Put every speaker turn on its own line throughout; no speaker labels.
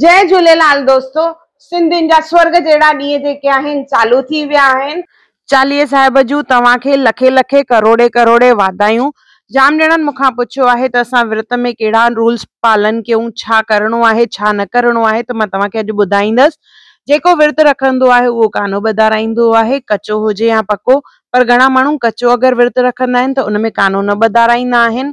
جئي جهوليلال دوستو سنڌين جا سورڳ جهڙا ڏينهن جيڪي آهن چالو ٿي ويا آهن. چاليهي صاحب جون توهان کي لکين لکين ڪروڙين ڪروڙين واڌايون. جام ڄڻن مون کان پڇيو آهي ته اسان ورت ۾ ڪهڙا رولز پالن ڪيون ڇا ڪرڻو آهي ڇا نه ڪرڻو آهي ته مان توهان کي اڄ ٻڌائيندس. جيڪو ورت رکندو آهي اهو ڪانو ٻڌارائيندو آهي ڪچو هجي يا پڪو پر گهڻا ماڻهو ڪچو اگر ورت رکندا آهن ته ان ۾ ڪانو نه ٻڌارائيندا آهن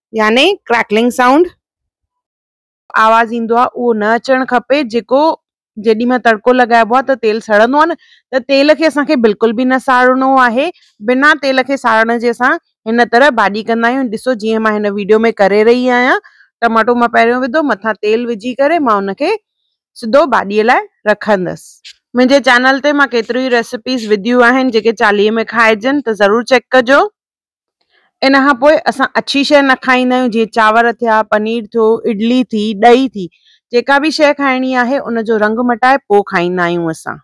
يعني ڪريڪلنگ سائونڊ آواز ايندو آ اهو نه اچڻ کپي جيڪو جيڏي مهل تڙڪو لڳائبو آ ته تيل سڙندو آ نه ته تيل کي اسان کي بلڪل به نه ساڙڻو آهي بنا تيل کي ساڙڻ جي اسان هن طرح ڀاڄي ڪندا آهيون ڏسو جيئن مان هن ويڊيو ۾ ڪري رهي آهيان ٽماٽو مان پهريون وڌو مٿان تيل وجهي ڪري مان ان کي سڌو ڀاڄي لاء رکندس منهنجي چينل تي مان ڪيتريون ئي ريسيپيز وڌيون آهن جيڪي چاليهي ۾ کائجن ته ضرور چيڪ ڪجو ان کان پوء اسان اڇي شيء نه کائيندا آهيون جيئن چانور ٿيا پنير ٿيو اڊلي ٿي ڏهي ٿي جيڪا به شيء کائڻي آهي ان جو رنگ مٽائي پوء کائيندا آهيون اسان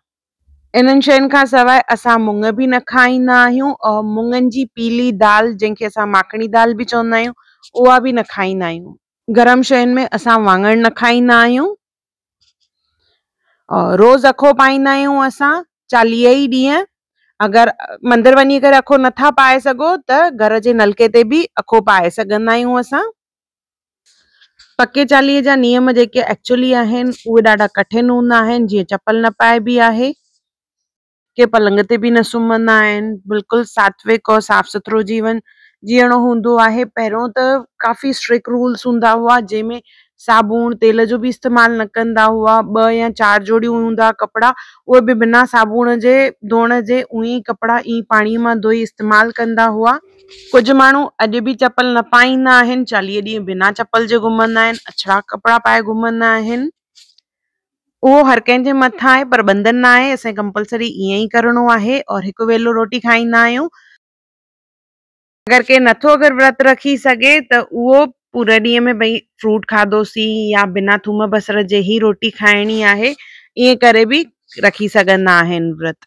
انهن شين کان سواء اسان مڱ به نه کائيندا آهيون ۽ مڱن جي پيلي دال جنهن کي اسان ماکڻي دال به چوندا آهيون اها به نه کائيندا آهيون. گرم شين ۾ اسان واڱڻ نه کائيندا آهيون روز اکو پائيندا آهيون اسان چاليهه ئي ڏينهن اگر مندر وڃي ڪري اکو نٿا پائي سگهو ته گهر جي نلڪي تي به اکو پائي سگهندا آهيون اسان پڪي چاليهه جا نيم جيڪي ايڪچولي آهن اهي ڏاڍا ڪٺن هوندا آهن جيئن چپل نه پائبي آهي ڪي پلنگ تي به نه سمهندا آهن، بلڪل ساتويڪ اور صاف سٿرو جيون جيئڻو هوندو آهي، پهريون ته ڪافي اسٽرڪ رولس هوندا هئا جنهن ۾ صابڻ تيل جو به استعمال نه ڪندا هئا، ٻه يا چار جوڙيون هوندا ها ڪپڙا اهي به بنا صابڻ جي ڌوئڻ جي اهي ئي ڪپڙا ايئن ئي پاڻي مان ڌوئي استعمال ڪندا هئا، ڪجهه ماڻهو اڄ به چپل نه پائيندا آهن، چاليهه ڏينهن بنا چپل جي گهمندا آهن، اڇڙا ڪپڙا پائي گهمندا آهن. اهو هر ڪنهن جي مٿان آهي پر بندن نه آهي اسين ڪمپلسري ائين ئي ڪرڻو آهي اور هڪ ويلو روٽي کائيندا آهيون اگر ڪي نٿو اگر ورت رکي سگهي ته اهو پورا ڏينهن ۾ ڀئي فروٽ کاڌوسين يا بنا ٿوم بصر جي هي روٽي کائڻي آهي ائين ڪري به رکي سگهندا آهن ورت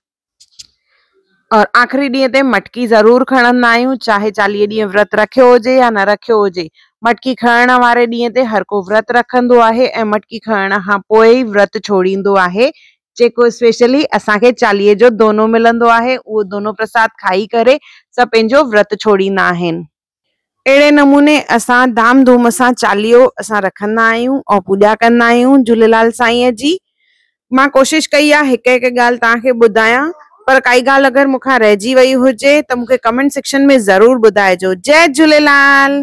اور آخري ڏينهن تي مٽڪي ضرور کڻندا آهيون چاهي چاليهه ڏينهن ورت رکيو هجي يا نه رکيو هجي. مٽڪي کڻڻ واري ڏينهن تي هر ڪو ورت رکندو آهي ۽ مٽڪي کڻڻ کان پوء ئي ورت ڇوڙيندو آهي. جيڪو اسپيشلي اسان کي چاليهه جو دونو ملندو آهي اهو دونو پرساد کائي ڪري سڀ پنهنجو ورت ڇوڙيندا آهن. اهڙي نموني اسان ڌام ڌوم سان چاليهو اسان رکندا آهيون ۽ پوڄا ڪندا آهيون جهوليلال سائينء جي. مان ڪوشش ڪئي آهي هڪ هڪ ڳالهه توهان کي ٻڌايان پر ڪائي ڳالهه اگر مون کان رهجي وئي هجي ته مون کي ڪمينٽ سيڪشن ۾ ضرور ٻڌائجو. جئه جهوليلال.